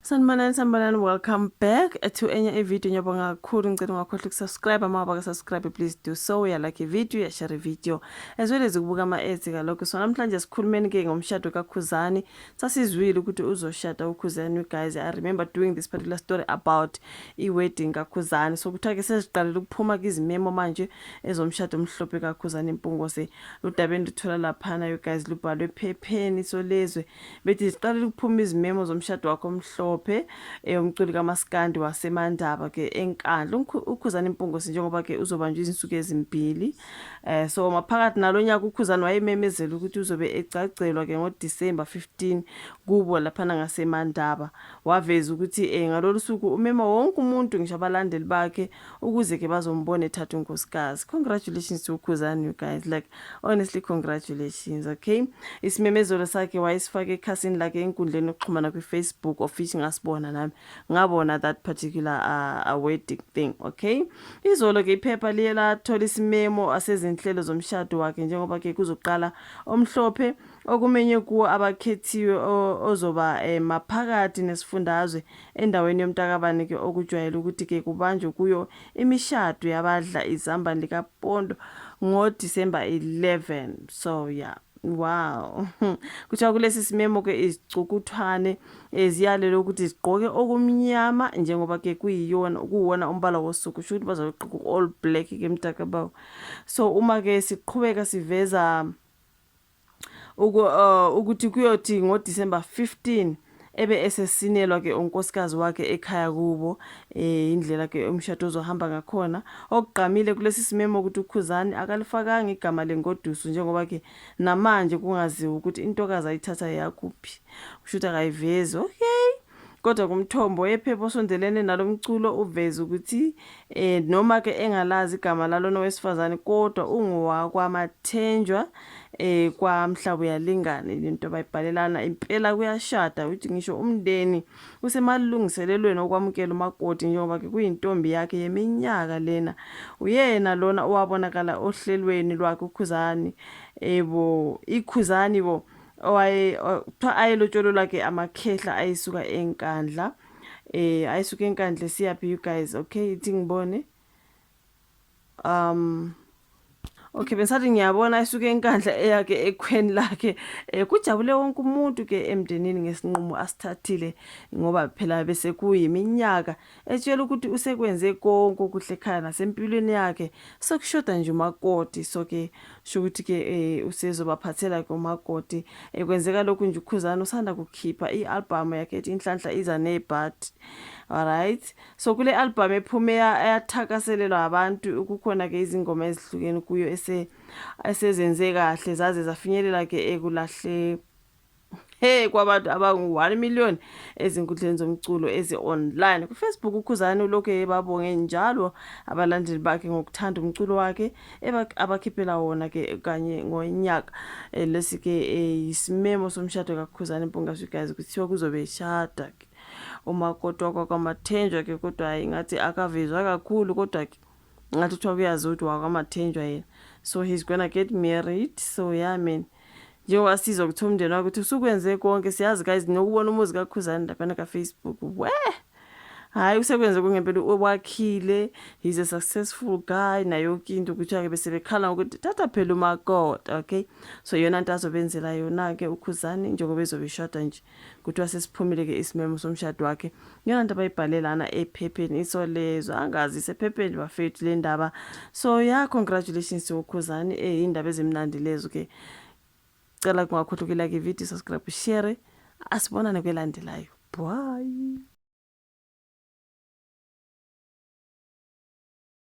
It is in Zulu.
Sanibonani sanibonani welcome back to enye ivideo ngiyabonga kakhulu ngicela ungakhohlwa ukusubscribe uma wabaka subscribe please do so uyalike ivideo uyashare ivideo as well as ukubuka ama-ads kalokho so namhlanje sikhulumeni-ke ngomshado kakhuzani sasizwile ukuthi uzoshada ukhuzani you guys i remember doing this particular story about i-wedding kakhuzani so kuthiwa-ke seziqalele ukuphuma kizimemo manje ezomshado omhlophe kakhuzani impungose ludabeni luthola laphana you guys lubhalwe ephepheni solezwe Bethi ziqalile ukuphuma izimemo zomshado wakho omhlophe eh, umculi kamaskandi wasemandaba ke enkandla ukhuzana impungosi njengoba ke uzobanjwa izinsuku ezimbili eh so maphakathi nalo nyaka ukhuzana wayememezela ukuthi uzobe egcagcelwa ke ngoDecember 15 kubo lapha ngasemandaba waveza ukuthi eh ngalolu suku umema wonke umuntu ngisho abalandeli bakhe ukuze ke bazombona ethatha unkosikazi congratulations to ukhuzani you guys like honestly congratulations okay isimemezelo sakhe wayesifake ekhasini lakhe enkundleni yokuxhumana kwifacebook of which ngasibona nami ngabona that particular uh, uh, wedding thing okay izolo ke iphepha liye lathola isimemo asezinhlelo zomshado wakhe njengoba ke kuzoqala omhlophe okumenye kuwo abakhethiwe ozoba eh, maphakathi nesifundazwe Endaweni yomtakabani ke okujwayele ukuthi ke kubanjwe kuyo imishado yabadla izambane likapondo ngo December 11 so yeah wow kuthiwa kulesi simemo ke izicukuthwane eh, ziyalelwe ukuthi zigqoke okumnyama njengoba ke kuyiyona kuwona umbala wosuku sho ukuthi bazogqoka all black ke mtakabawo so uma ke siqhubeka siveza uku, uh, ukuthi kuyothi ngoDisemba 15 ebe esesinelwa ke unkosikazi wakhe ekhaya kubo eh indlela ke umshado ozohamba ngakhona okugqamile kulesi simemo ukuthi uKhuzani akalifakanga igama lengoduso njengoba ke namanje kungaziwa ukuthi intokazi ayithatha yakuphi kusho ukuthi akayivezi okay Kodwa kumthombo wephepha osondelene nalo mculo uveze ukuthi eh noma-ke engalazi igama lalona wesifazane kodwa ungowakwamathenjwa eh kwamhlaba uyalingana into bayibhalelana impela kuyashada ukuthi ngisho umndeni usemalungiselelweni okwamukela umakoti njengoba-ke kuyintombi yakhe yeminyaka lena uyena lona owabonakala ohlelweni lwakhe ukhuzani ebo ikhuzani bo owaye kuthiwa ayelotshololwa ke amakhehla ayesuka enkandla eh ayesuka enkandla siyaphi you guys okay ithi ngibone um okay bengisathi ngiyabona ayisuke enkandla eyakhe ekhweni lakhe um kujabule wonke umuntu ke emndenini ngesinqumo asithathile ngoba phela bese kuyiminyaka um Etshela ukuthi usekwenze konke okuhle ekhaya nasempilweni yakhe sekushoda nje umakoti so ke shukuthi ke eh, usezobaphathela ke umakoti eh, kwenzeka lokhu nje ukhuzana usanda kukhipha i-albhamu yakhe ethi inhlanhla iza nebhati alright so kule albhamu ephume yathakaselelwa abantu kukhona ke izingoma ezihlukene kuyo esezenze kahle zaze zafinyelela ke ekulahle Hey kwabantu abangu-1 million ezinkundleni zomculo ezi-online kufacebook ukhuzane ulokhu ebabonge njalo abalandeli bakhe ngokuthanda umculo wakhe abakhiphela wona ke kanye ngonyaka eh, lesi ke eh, isimemo somshado kakhuzane mpungaswi guys kuthiwa kuzobe eshada ke umakoti wakwamathenjwa ke kodwa hayi ngathi akavezwa kakhulu kodwa ke ngathi kuthiwa kuyazi ukuthi wakwamathenjwa yena so he's gonna get married so yeah man njengoba sizwa kuthiwa umndeni wakho ukuthi usukwenze konke siyazi guys nokubona umuzi kakhuzane laphana kafacebook we hhayi usekwenze kungempela wakhile he's a successful guy nayo yonke into kuthiwa-ke bese bekhala ngokuthi thatha phela umakota okay so yona nto azobenzela yona-ke ukhuzane njengoba ezobe ishoda nje kuthiwa sesiphumile ke isimemo somshado wakhe ngiyona nto abayibhale lana ephepheni isolezwe angazi isephepheni bafethu le ndaba so ya congratulations to ukhuzani eh indaba ezimnandi lezo ke cela kungakhohlukela ke video subscribe share asibonane kwelandelayo bye